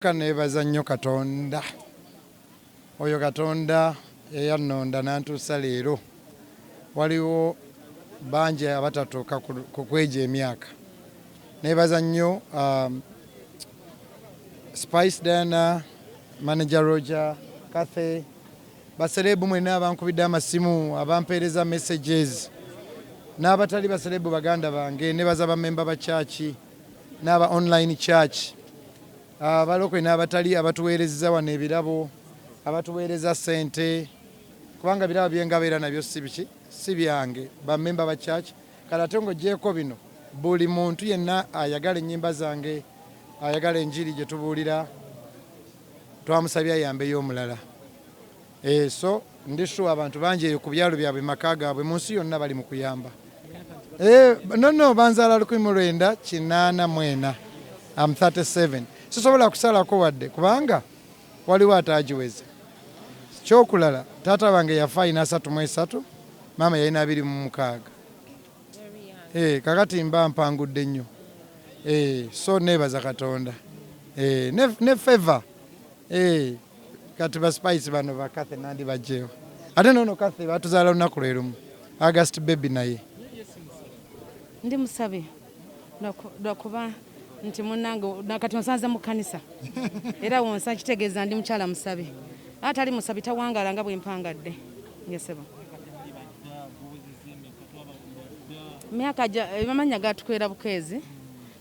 Ka neebaza nnyo Katonda, oyo Katonda eyannonda n'antuusa leero. Waliwo bangi abatatuuka ku kw'egyo emyaka. Neebaza nnyo Spice Diana, Manager Roger, Cathy, basereebu mwenna abankubidde amasimu, abampeereza messages n'abatali basereebu baganda bange. Neebaza bammemba ba church. n'aba online church abalokole n'abatali abatuweerezza wano ebirabo abatuweereza sente kubanga birabo byengaba era nabyo si biki si byange bamemba ba church kale ate ng'ogyeko bino buli muntu yenna ayagala ennyimba zange ayagala enjiri gye tubuulira twamusabye ayambeyo omulala Eh, so ndi sure abantu bangi eyo ku byalo byabwe maka gaabwe mu nsi yonna bali mu kuyamba eh, nono banzaala lukumi mu lwenda kinaana mwena am 37 sisobola kusalako wadde kubanga waliwo ataagiweze kyokulala taata wange yafa alina asatu mu esatu maama yalina abiri mu mukaaga eh, kakati mba mpangudde nnyo eh, so nebaza katonda eh, ne, ne favor eh, kati ba spice bano ba Kathy nandi bajeewo ate nono Kathy batuzaala lunaku lwe lumu August baby naye ndi musabi lwakuba nti munange nakati onsanze mu kanisa era wonsa kitegeeza ndi mukyala musabi atali musabi tawangala nga bwempangadde ngesebo myaka eh, amanya gatukwera bukeezi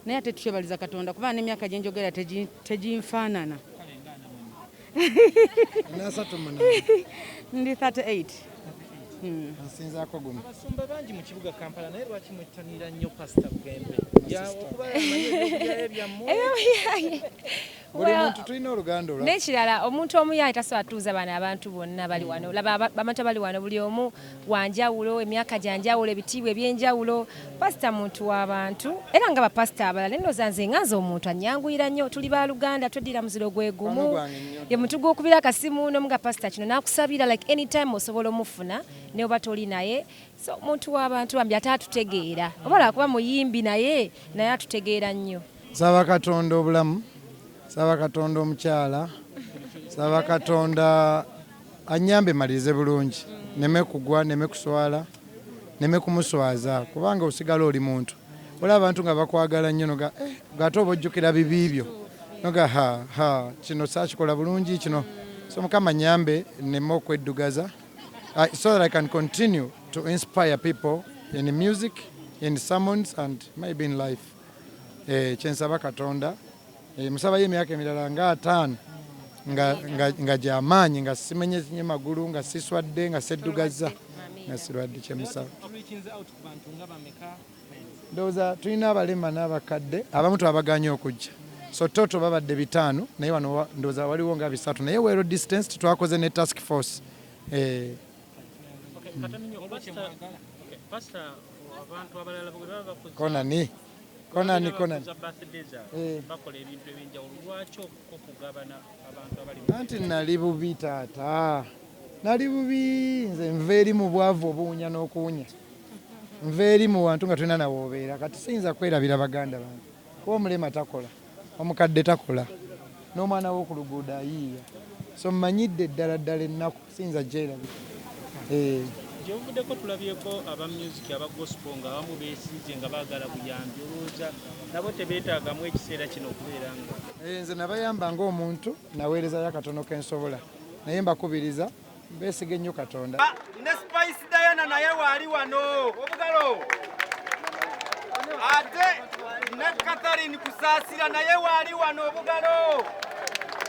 naye ate tukyebaliza katonda kuba nemyaka gyenjogera teginfaanana ndi 38 hmm. nsinzaako gumu abasumba bangi mu kibuga kampala naye lwaki mwettanira nnyo pasita bugembe nekirala omuntu omu yaali tasobola tuuza bano abantu bonna bali wano laba bamata bali wano buli omu wanjawulo emyaka gyanjawulo ebitiibwa ebyenjawulo pasita muntu wabantu era nga bapasita abalala nenoza nze nga nze omuntu anyanguyira nnyo tuli baluganda tweddira muziro gwe gumu ye muntu gwokubira akasimu nomu nga pasita kino nakusabira like anytime osobola omufuna neoba toli naye so muntu wabantu bambi ate atutegeera oba lwakuba muyimbi naye naye atutegeera nnyo Nsaba Katonda obulamu, nsaba Katonda omukyala, nsaba Katonda annyambe malirize bulungi neme kugwa neme kuswala neme kumuswaza kubanga osigala oli muntu olaba abantu nga bakwagala nnyo noga eh, ate oba ojjukira bibi byo noga ha ha kino saakikola bulungi kino so mukama nyambe neme okweddugaza uh, so that I can continue to inspire people in music in sermons and maybe in life Eh, kyensaba katonda eh, musabayo emyaka emirala nga ataano nga gyamaanyi nga simenyezinye magulu nga siswadde nga seddugaza nga sirwadde kyemusaba ndowooza tulina abalema n'abakadde abamu twabaganye okujja so toto babadde bitaano naye wano ndowooza waliwo nga bisatu naye wero distance titwakoze ne task force eh, konani konani konani eh. anti nali bubi taata nali bubi nze nva eri mu bwavu obuwunya n'okuwunya nva eri mu wantu nga tulina nawe obeera kati siyinza kwerabira baganda bange kuba omulema takola omukadde takola n'omwana w'oku luguudo ayiiya so mmanyidde ddala ddala ennaku Sinza jjerabi. Eh. Gyebuvuddeko tulabyeko aba music aba gospel nga abamu beesize nga baagala buyambi olowooza nabo tebeetaagamu ekiseera kino okubeera nga eh, nze nabayamba ng'omuntu naweerezayo akatono ke nsobola naye mbakubiriza beesige nnyo katonda ah, ne spice diana naye waali wano obugalo ate ne katharine kusaasira naye waali wano obugalo